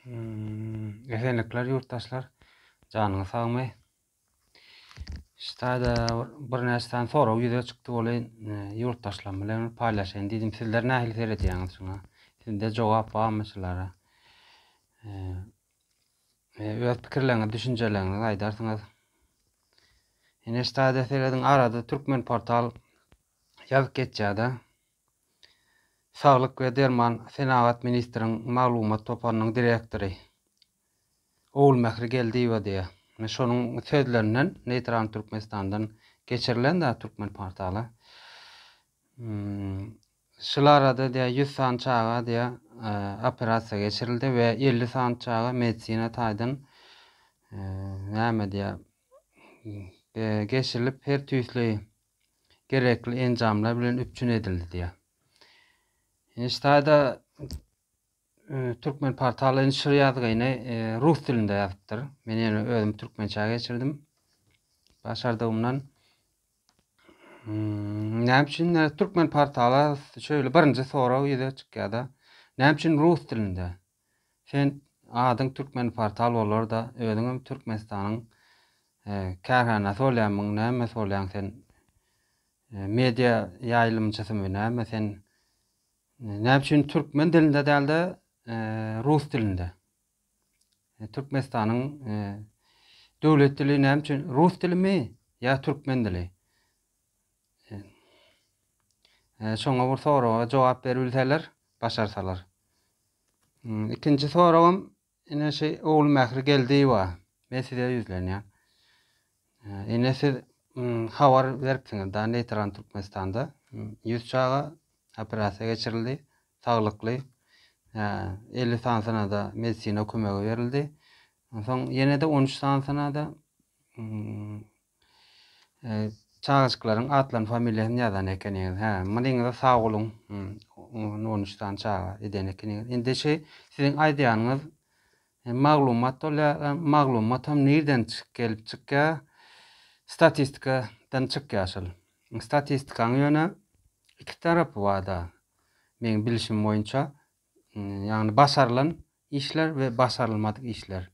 Esenlikler ýurtdaşlar. Janyňyz sagmy? Ştaýda bir näçe sany sorag ýüze çykdy bolaý ýurtdaşlarym bilen paýlaşaýyn diýdim. Sizler nähili seredýäňiz şuňa? Sizde jogap barmy şulara? Öz pikirleriňizi, düşünjeleriňizi aýdarsyňyz. Ine ştaýda serediň arada türkmen portal ýazyp geçýär-de. Saglyk we derman senagat ministriň maglumat toparynyň direktory Ogulmähri Geldiýewa diýýär. Şonuň sözlerinden Neýtral Türkmenistandan geçirilen Türkmenportaly. Şol arada diýýär, ýüz sany çaga diýýär, operasiýa geçirildi we elli sany çaga medisina taýdan näme diýýär, geçirilip, her tüýsli gerekli enjamlar bilen üpjün edildi diýýär. Ine şu taýda e, Türkmen portaly şu ýazgyny e, rus dilinde ýazypdyr. Men ýöne özüm türkmençä geçirdim. Başardygymdan hmm, Näme üçin e, türkmen portaly şöyle birinji sorag ýüze çykýar-da. Näme üçin rus dilinde? Sen adyň Türkmenportal bolarda özüňem Türkmenistanyň kärhanasy bolýamyň näme bolýaň sen media ýaýlymçysymy näme sen näme üçin türkmen dilinde dälde rus dilinde Türkmenistanyň döwlet dili näme üçin rus dilimi ýa türkmen dili Şoňa bir soraga jogap beribilseler, başarsalar. Ikinji soragym ine şu Ogulmähri Geldiýewa. Men size ýüzlenýän. Ine siz habar beripsiňiz da Neýtral Türkmenistanda ýüz çaga operasiýa geçirildi, saglykly. 50 sanysynada medisina kömegi berildi. Onsoň ýene-de 13 sanysynada Çagajyklaryň atlaryny familiýasyny ýazan ekeniňiz hä mynyňyza sag boluň on üç sany çaga eden ekeniňiz indi şu siziň aýdýanyňyz maglumat bolýar maglumatam nirden gelip çykýar statistikadan çykýar şol statistikaň ýöne iki tarapy barda meň bilişim boýunça ýagny başarylan işler we başarylmadyk işler.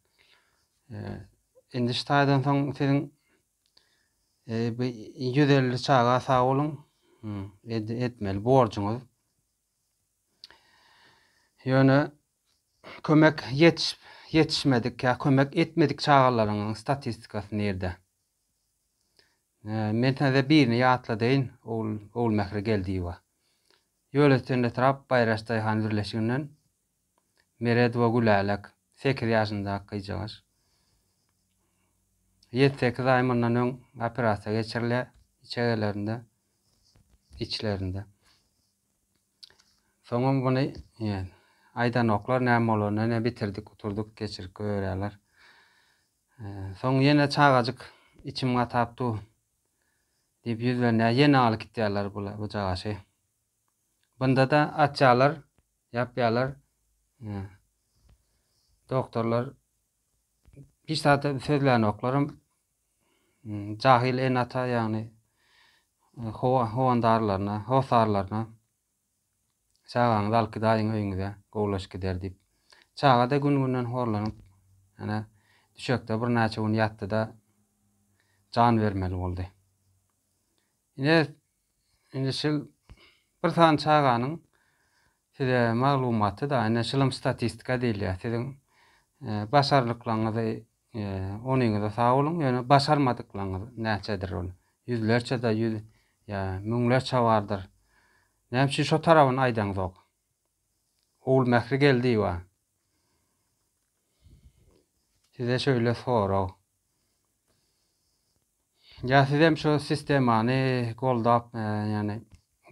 Endiş taýdan soň siziň bu 150 çaga sag boluň etmeli borjuňyz. Ýöne kömek ýetişip ýetişmedik ýa kömek etmedik çagalaryň statistikasy nirde? Men size birini ýatladaýyn, Ogulmehri Geldiýewa. Ýol üstünde etrap Baýraş daýhan birleşiginden Meredowa Gülälek, sekiz ýaşyndaky gyzjagaş. Ýedi-sekiz aý mundan öň operasiýa geçirilýär içegelerinde, içlerinde. Soňam muny aýdanoklar, näme bolanda ine bitirdik, uturduk, geçirip goýberýärler. Soň ýene çagajyk içim gatap dur. Diýip ýüzlerine ýene alyp gitýärler bula bujagaşy. Bunda-da açýarlar, ýapýarlar. Doktorlar hiç zat sözlänoklarym. Jahyl enata ýagny howandarlaryna, hosarlaryna Çagaňyzy al kidaýyň öýüňize, gowulaşyp gider diýip. Çaga-da gün-günden horlanyp, ýene düşekde birnäçe gün ýatdy-da, jan bermeli boldy. Ine, indi şul bir sany çaganyň size maglumaty-da, ine, şulam statistika diýilýär. Siziň başarnyklaryňyzy Onyňyza sag boluň, ýöne başarmadyklaryňyz näçedir ol? Ýüzlerçe-de ýüz, ýa müňlerçe bardyr. Näme üçin şo tarabyny aýdaňzok? Ogulmähri Geldiýewa, Size şeýle sorag. Ýa siz hem şu sistemany goldap, ýagny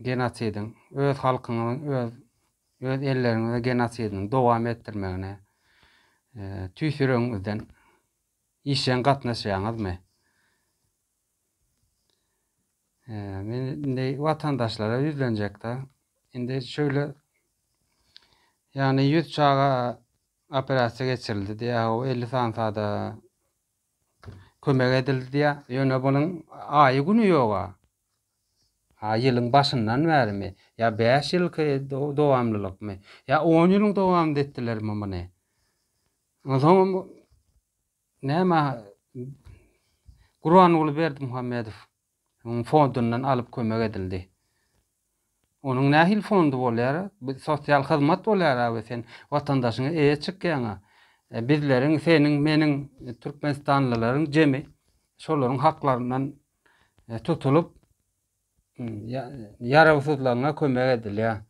genosidiň öz halkyňyzyň öz öz elleriňize genosidiniň dowam etdirmegine tüýs ýüregiňizden işjeň gatnaşýaňyzmy? Men indi watandaşlara ýüzlenjekde, indi şöyle ýagny 100 çaga operasiýa geçirildi diýýär, o 50 sansada kömek edildi diýýär. Ýöne bunuň aýy güni ýog-a. Ha ýylyň başyndan bärimi? Ýa bäş ýylky dowamlylykmy? Ýa on ýylyň dowamynda etdilermi muny? Onsoňam näme Gurbanguly Berdimuhamedow onuň fondundan alyp kömek edildi. Onuň nähili fondy bolýar? Bu sosial hyzmat bolýar-a we sen watandaşyňa eýe çykýaň-a. Bizleriň, seniň, meniň, türkmenistanlylaryň jemi şolaryň haklaryndan tutulyp, ýarawsyzlygyna kömek edilýär.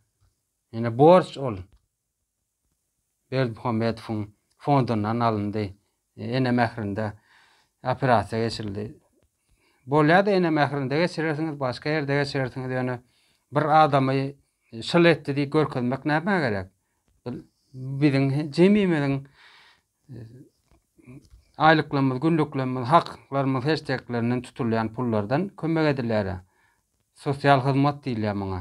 Ýöne borç ol Berdimuhamedowyň fondundan alyndy. Ene mährinde operasiýa geçirildi. Bolýar-da ene mährinde geçirersiňiz, başga ýerde geçirersiňiz, ýöne bir adamy şyl etdi diýip görkezmek nämä gerek? Biziň jemimiziň aýlyklarymyz, günlüklerimiz, haklarymyz heşdeklerinden tutulýan pullardan kömek edilýär. Sosial hyzmat diýilýär muňa.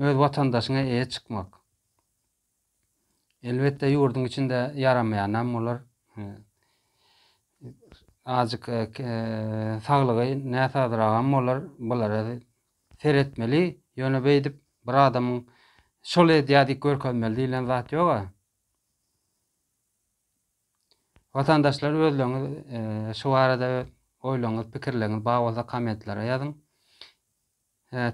Öz watandaşyňa eýe çykmak. Elbetde ýurduň içinde ýaramaýanam olar azjyk saglygy näsazragam bolar bulara seretmeli. Ýöne beýdip bir adamyň şol edýär diýip görkezmeli diýlen zat ýog-a. Watandaşlar özleriňiz şu barada oýlaryňyz pikirleriňiz bar bolsa kommentlere ýazyň.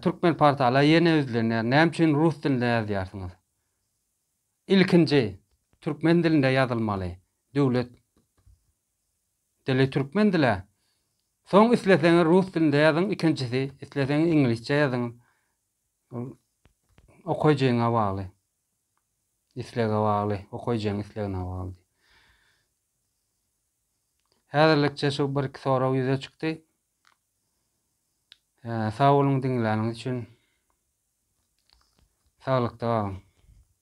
Türkmen portala ýene üzlenýär. Näme üçin rus dilinde ýazýarsyňyz? Ilkinji türkmen dilinde ýazylmaly. Döwlet dili türkmen dili. Soň isleseňiz rus dilinde ýazyň, ikinjisi isleseňiz iňlisçe ýazyň. Okaýjyňa bagly. Islege bagly, okyjyň islegine bagly. Häzirlikçe şu bir iki sorag ýüze çykdy. Sag boluň diňläniňiz üçin. Saglykda galyň.